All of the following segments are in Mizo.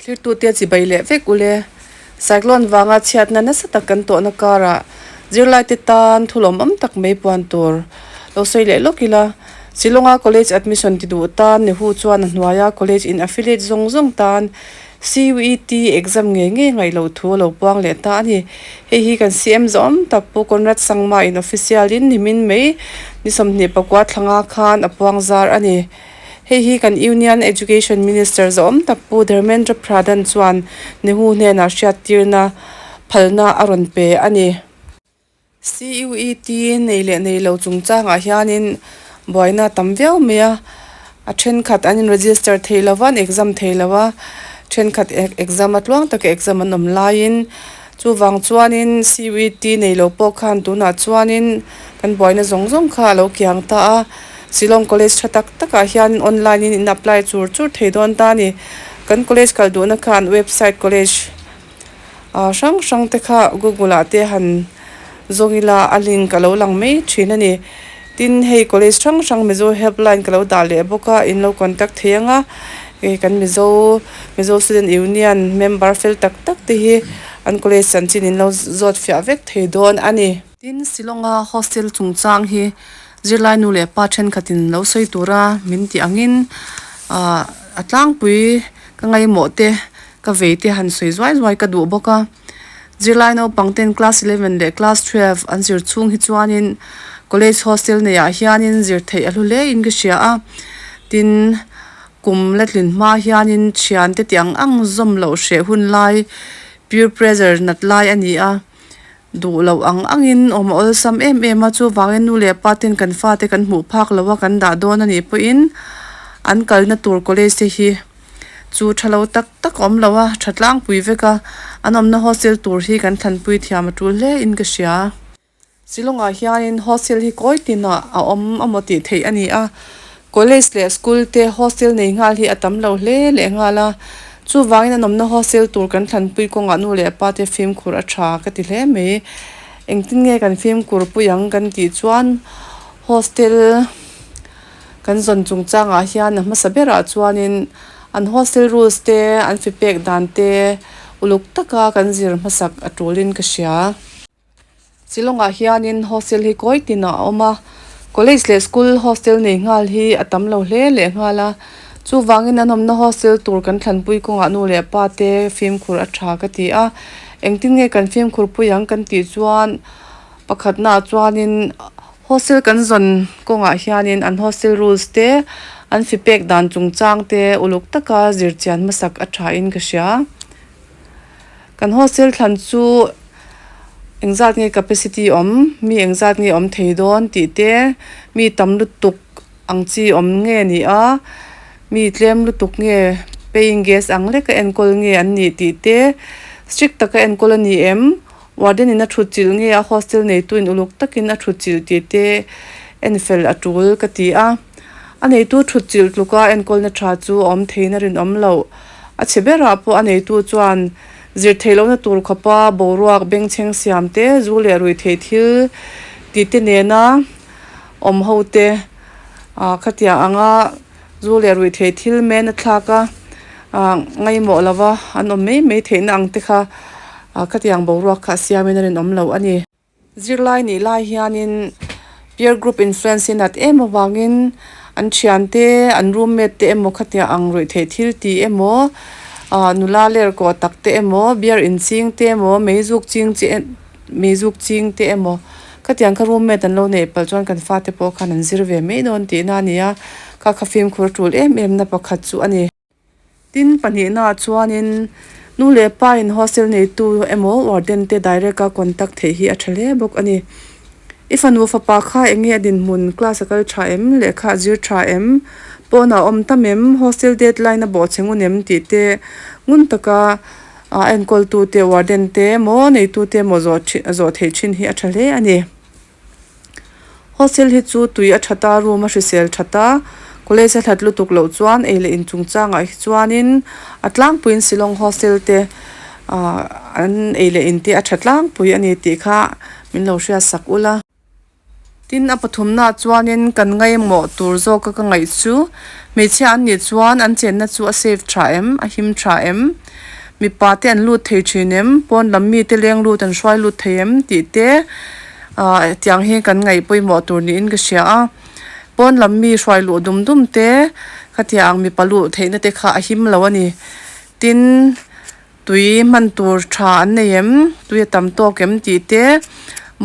Thirtu te chi bai leh vek ule. Cyclone vanga chhiatna nasa tak kan tawhna kara zirlai te tan thu lawmawm tak mai puan tur lo sawi leh lawk ila. Shillonga college admission ti duh tan nehu chuan a hnuaia college in affiliate zawng zawng tan. CUET exam ngei ngei ngaihloh thu a lo puang leh ta a ni. Hei hi kan siam zawm tak Pu Conrad Sangma in official in nimin mai ni sawmhnih pakua thlanga khan a puang zar a ni. Hei hi kan Union Education Minister zawm tak Pu Dharmendra Pradhan chuan Nehru hnenah hriattirna phalna a rawn pe a ni. CUET nei leh nei lo chungchangah hianin buaina a tam viau mai a, a thenkhat an in register thei lo va, an exam thei lo va, thenkhat exam atluang taka exam an awm laiin chuvang chuanin CUET nei lo pawh khan tunah chuanin kan buaina zawng zawng kha a lo kiang ta a, Shillong College tha tak takah hianin online in in apply chur chur thei dawn ta a ni, kan college kal duhna khan website college. ah hrang hrang te kha Google ah te han zawng ila a link a lo lang mai thin a ni tin hei college hrang hrang Mizo help line ka lo dah leh bawk a in lo contact thei ang a hei kan Mizo Mizo student union member fel tak tak te hi an college an chin in lo zawt fiah vek thei dawn a ni. Tin Shillong a hostel chungchang hi zirlai nu leh pa thenkhat in lo sawi tur a min tih ang in ah a tlangpui ka ngaihmawh te Ka vei te han sawi zuai zuai ka duh bawk a. Zirlai naupang ten class eleven leh class twelve an zir chhung hi chuanin college hostel nei ah hianin zir theih a hlu hle in ka hria a. Tin kum la tlin hma hianin thian te tiang ang zawm loh hreh hun lai peer pressure nat lai a ni a. Duh loh ang ang in awm a awlsam em em a. Chuvangin nu leh pa ten kan fate kan hmuh phak loh a kan dah dawn a nih pawh in an kalna tur college te hi. chu tha lo tak tak awm lo a tha tlangpui vek a, an awmna hostel tur hi kan thlanpui thiam a tul hle in ka hria. Shillong ah hianin hostel hi kawi tin ah a awm a maw tih theih a ni a, college leh school te hostel nei nghal hi a tam lo hle leh nghal a, chuvangin an awmna hostel tur kan thlanpui kawng ah nu leh pa te fimkhur a tha ka ti hle mai. Engtin nge kan fimkhur pui ang kan tih chuan hostel. Kan zawn chungchangah hian a hmasa berah chuanin an hostel rules te, an fipek dan te uluk taka kan zir hmasak a tulin ka hria. Shillongah hianin hostel hi kawi tina a awm a, college leh school hostel nei nghal hi a tam lo hle leh nghal a. Chuvangin an awmna hostel tur kan thlanpui kawngah nu leh pa te fimkhur a tha ka ti a. Engtin nge kan fimkhur pui ang kan tih chuan pakhatnaah chuanin Hostel kan zawn kawngah hianin an hostel rules te, an fipek dan chungchang te uluk taka zirchian hmasak a thain ka hria. Kan hostel thlan chu engzat nge capacity awm, mi engzat nge awm thei dawn tih te, mi tam lutuk ang chi awm nge ni a, mi tlem lutuk nge, paying guest ang leka enkawl nge an nih tih te, strict taka enkawl a ni em, Warden in a thut chilh nge a hostel neitu in uluk takin a thut chilh ti te en fel a tul ka ti a. A neitu thut chilh tluka enkawlna tha chu a awm theihna rinawm lo. A chhe berah pawh a neitu chuan zir theih lohna tur khawpa, boruak, bengchheng siam te, zu leh rui theih thil ti te nena awm ho te khatiang anga, Zu leh ruihthei thil men a thlak a, ngaihmawh lova an awm mai mai theihna ang te kha khatiang boruak kha siamin a rinawm lo a ni. Zirlai nih lai hianin peer group influence hi nat em avangin an thiante, an room mate te emaw khatiang ang ruihthei thil ti emaw, nula ler kawh tak te emaw, beer inching te emaw, mei zuk ching te emaw, Mi zuk ching te emaw. Khatiang kha room mate an lo neih palh chuan kan fate pawh khan an zir ve mai dawn tih na a ni a, kha kha fimkhur tul em em na pakhat chu a ni. Tin, pahnih naah chuanin nu leh pa in hostel neitu emaw warden te direct a contact theih hi a tha hle bawk a ni. I fanu fapa kha eng nge a dinhmun, class a kal tha em, lehkha a zir tha em, pawnah a awm ta mem, hostel deadline a bawhcheng u nem tih te ngun taka A enkawltute, Warden, te maw neitute maw zawh ṭhin a zawh theih ṭhin hi a ṭha hle a ni. Hostel hi chu tui a ṭhat a, room a hrisel ṭhat a. College a hlat lutuk loh chuan ei leh in chungchangah hi chuanin a tlangpuiin Shillong hostel te ahh an ei leh in te a ṭha tlangpui a ni tih kha min lo hriat sak ul a. Tin, a pathumnaah chuanin kan ngaimawh tur zawka ka ngaih chu. Hmeichhia an nih chuan an chenna chu a safe tha em? A him tha em? Mipate an lut thei thin em? Pawnlam mite leng lut an hruai lut thei em? Tih te tiang hi kan ngaih pawimawh tur niin ka hria a. Pawnlam mi hruai luh dum dum te khatiang mipa luh theihna te kha a him lo a ni. Tin. Tui hman tur tha an nei em? Tui a tam tawk em? tih te,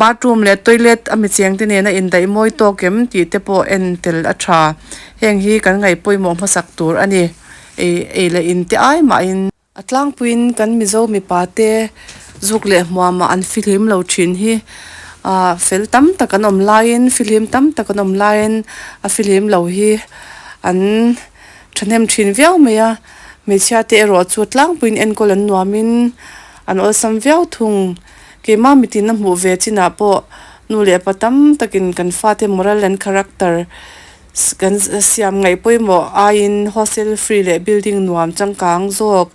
bathroom leh toilet a mi chengte nen a indaih mawi tawk em? tih te pawh en tel a tha. Heng hi kan ngaihpawimawh hmasak tur a ni. Ei ei leh in te ai mahin. A tlangpuiin kan Mizo mipa te zuk leh hmuamah an fihlim lo thin hi ah fel tam tak an awm laiin fihlim tam tak an awm laiin a fihlim lo hi an. Thahnem thin viau mai a, hmeichhia te erawh chu tlangpuiin enkawl an nuamin an awlsam viau thung. Keimah mitinna hmuh ve chinah pawh nu leh pa tam takin kan fate moral and character kan siam ngaih pawimawh aiin hostel free leh building nuam changkang zawk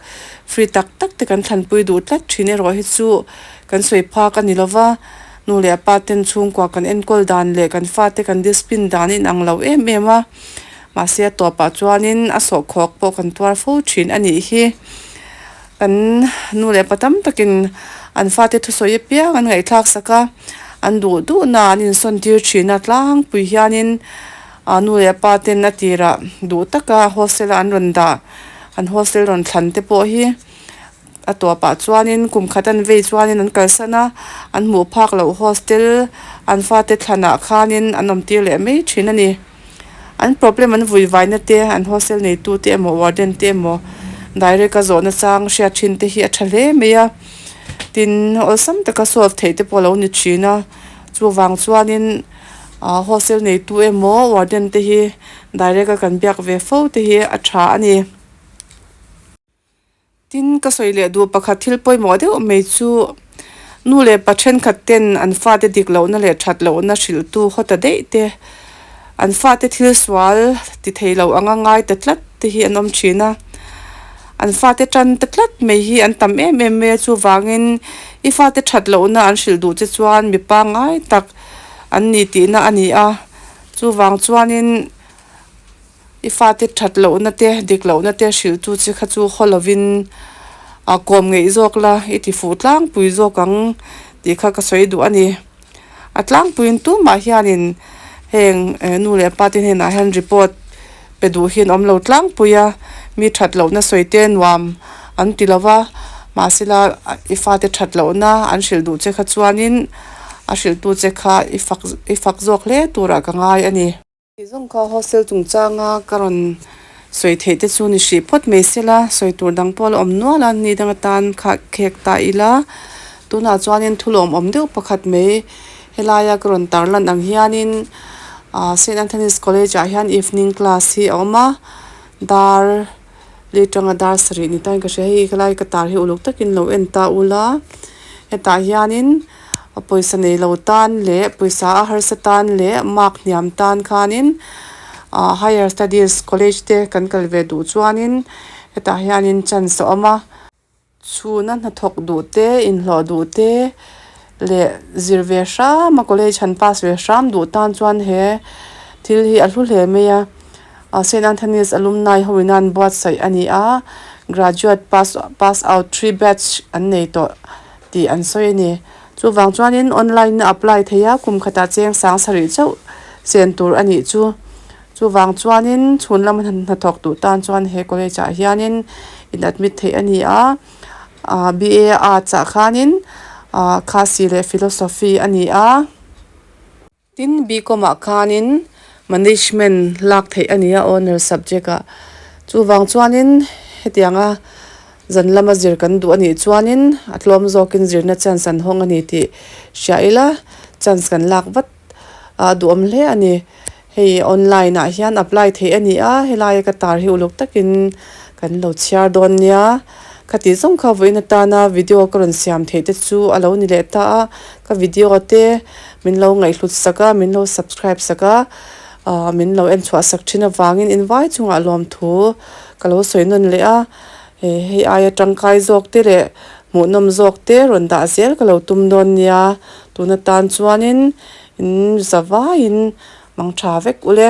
free tak tak te kan thlanpui duh tlat thin erawh hi chu kan sawi phak a ni lo va, nu leh pa ten chhungkua kan enkawl dan leh kan fate kan discipline dan a inang lo em em a. Mahse a tawpah chuanin a sawhkhawk pawh kan tuar fo thin a nih hi. Kan nu leh pa tam takin an fate thusawi apiang an ngaihthlak sak a, an duh duhna an insawntîr thinna tlangpui hianin a nu leh a pa ten a tirah duh taka hostel-a an rawn dah. An hostel rawn thlan te pawh hi. A tuahpah chuanin kum khat an vei chuanin an kalsan a, an hmuh phak loh hostel an fate thlanah khanin an awmtir leh mai thin a ni. An problem an vuivaina te, an hostel neitute emaw warden te emaw direct a zawhna chang hriat thin te hi a tha hle mai a. Tin, awlsam taka solve theih te pawh a lo ni thin a. Chuvang chuanin aah hostel neitu emaw warden te hi direct a kan biak ve fo te hi a tha a ni. Tin, ka sawi leh duh pakhat thil pawimawh deuh mai chu nu leh pa thenkhat ten an fate dik lohna leh that lohna hrilhtu haw ta daih te, an fate thil sual ti thei loh anga ngai ta tlat te hi an awm thin a. An fate tan ta tlat mai hi an tam em em mai a, chuvangin i fate that lohna an hrilh duh che chuan mipa ngai tak an ni tihna a ni a, chuvang chuanin. I fate that lohna te, dik lohna te hrilhtu che kha chu haw lovin a kawm ngeih zawk la, i tifuh tlangpui zawk ang tih kha ka sawi duh a ni. A tlangpuiin tumah hianin heng nu leh pate hnenah hian report pe duh hi an awm lo tlangpui a, mi that lohna sawi te nuam an ti lo va, mahsela i fate that lohna an hrilh duh che kha chuanin a hrilhtu che kha i fak zawk hle turah ka ngai a ni. Ti zawng kha hostel chungchanga ka rawn sawi theih te chu ni hrih phawt mai se la, sawi tur dang pawh a la awm nual a, ni dang atan kha khek ta ila, tunah chuanin thu lawm awm deuh pakhat mai helaia ka rawn tar lan ang hianin Saint Anthony's College-ah hian evening class hi a awm a, dar. Late tang a dar sarih ni tain ka hria. Hei ka lai ka tar hi uluk takin lo en ta ula, hetah hianin pawisa nei lo tan leh pawisa a harsa tan leh mark hniam tan khanin aah higher studies college te kan kal ve duh chuanin hetah hianin chance a awm a. Chhuna hnathawk duh te, inhlawh duh te leh zir ve hram a, college han pass ve hram duh tan chuan he thil hi a hlu hle mai a. Saint Anthony's alumni ho ina'n buatsaih a ni a, graduate pass pass out three batch an nei tawh tih an sawi a ni. Chuvang chuanin online a apply thei a, kum khatah cheng sang sarih chauh chen tur a nih chu. Chuvang chuanin chhun lam hnathawk duh tan chuan he college ah hianin in admit theih a ni a, aah BA Arts ah khanin aah Khasi leh Philosophy a ni a. Tin, BCom ah khanin Management lak theih a ni a Honour subject ah. Chuvang chuanin hetiang a zan lama zir kan duh a nih chuanin a tlawm zawkin zirna chance an hawng a ni tih hria ila chance kan lak vat. a duhawm hle a ni. Hei online ah hian apply theih a ni a, helaia ka tar hi uluk takin kan lo chhiar dawn nia. Khatih zawng kha vawiin atana video ka rawn siam theih te chu a lo ni leh ta a, ka video te min lo ngaihhlut sak a, min lo subscribe sak a, min lo en chhuah sak thin avangin invai chungah lawmthu ka lo sawi nawn leh a. He hei aia tangkai zawk te leh hmuhnawm zawk te rawn dah zel ka lo tum dawn nia, tuna tan chuanin in za vaiin mang tha vek ule.